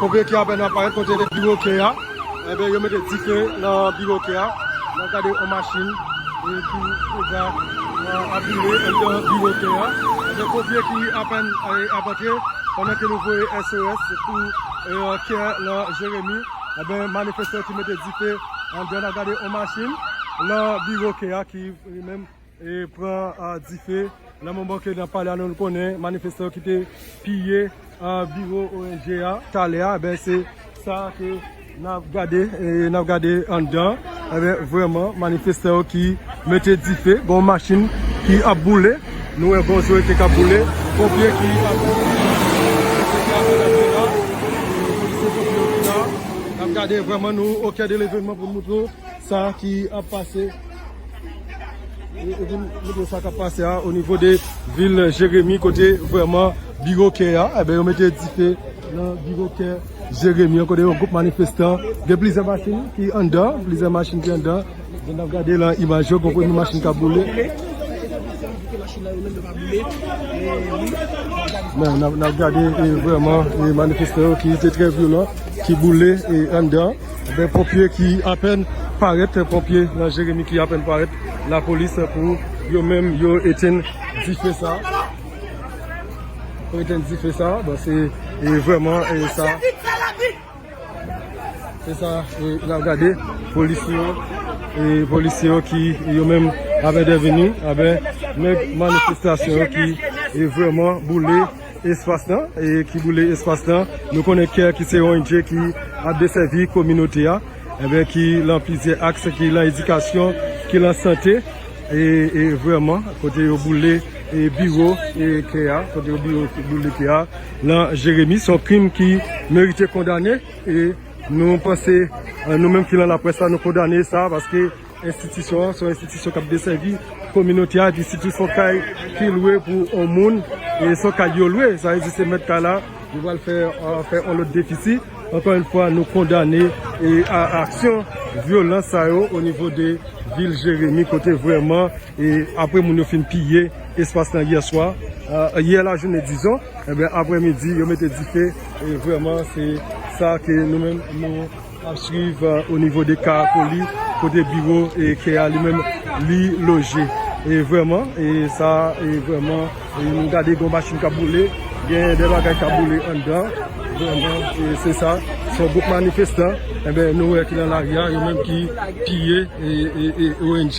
Konbyen ki apèn ap parèt kote de biwo ke a Ebyen yo mete dife nan biwo ke a N ap gade yon machin ki deja aviwe anndan biwo ke a Ebyen konbyen ki apèn ap antre pandan ke nou voye SOS pou kè nan Jeremi Ebyen manifestan ki mete dife anndan N ap gade yon machin nan biwo ke a ki li menm e pran dife nan moman ke nap pale a nou konnen manifestan yo ki te piye biwo ong a talè a ebyen se sa ke nap gade e nap gade anndan ebyen vreman manifestan yo ki mete dife gon machin ki ap boule nou wè gon jwete kap boule konpye ki ap nap gade vreman nou okè de levenman pou nou moutre w. Sa ki ap pase a o nivo de vil Jeremi kote vreman biwo kè a, e ben yo mete dife nan biwo kè Jeremi an kote yon gwoup manifestan gen plizyè machin ki anndan, plizyè machin ki anndan, jan nap gade lan imaj yo gon premye machin kap boule. Men nap gade e vreman manifestan yo ki te trè vyolan ki boule e anndan. Gen ponpye ki apèn parèt, ponpye nan Jeremi ki apèn parèt, lapolis pou yo menm yo etenn dife sa. Pou etenn dife sa, bon se vreman e sa. Se sa la gade, polisye yo, polisye yo ki yo menm avèn deveni, avèn nèk manifestasyon ki vreman boule. Espas nan, ki boule espas nan. Nou konnen care ki se yon ong ki ap desèvi kominote a, enben ki lan plizyè aks, ki lan edikasyon, ki lan sante, e vreman kote yo boule biwo care a, kote yo boule care a lan Jeremi, son krim ki merite kondane, e nou panse nou menm ki lan laprès la nou kondane sa, paske. Enstitisyon an se yon enstitisyon k ap desèvi kominote a epi sitou se yon kay ki lwe pou yon moun e se yon kay yo lwe sa vle di se mèt kay la yo pral fè yon lòt defisi ankò yon fwa nou kondane a aksyon vyolans sa yo o nivo de vil jeremi kote vrèman e apre moun yo fin piye espas lan yè swa yè lajounen dizon aprè midi yo mete dife e vrèman se sa ke nou menm nou. Nap swiv o nivo de Karakoli kote biwo ke a li menm li loje. E vreman e sa e vreman nou gade gon machin kap boule gen de bagay kap boule anndan vreman e se sa son gwoup manifestan enben nou wè ki nan lari a yo menm ki piye e ONG.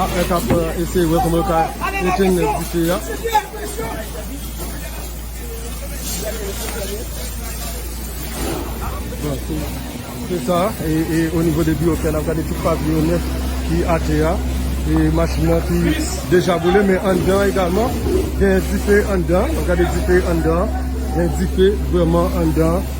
Arthur kap eseye wè kòman yo ka etenn dife a. Bon, se sa, e o nivo de biwo kè nap gade tout papye yo nèt ki atè a. E machin nan ki deja boule men anndan egalman gen dife anndan. Gade dife anndan, gen dife vrèman anndan.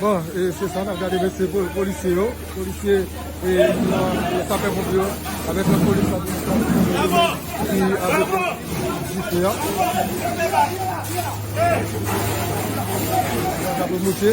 Bon e se sa nap gade mesye polisye yo, polisye e sapè ponpye yo avèk lòt polis la polis la ki avèk jifè a. Gaz la ap monte.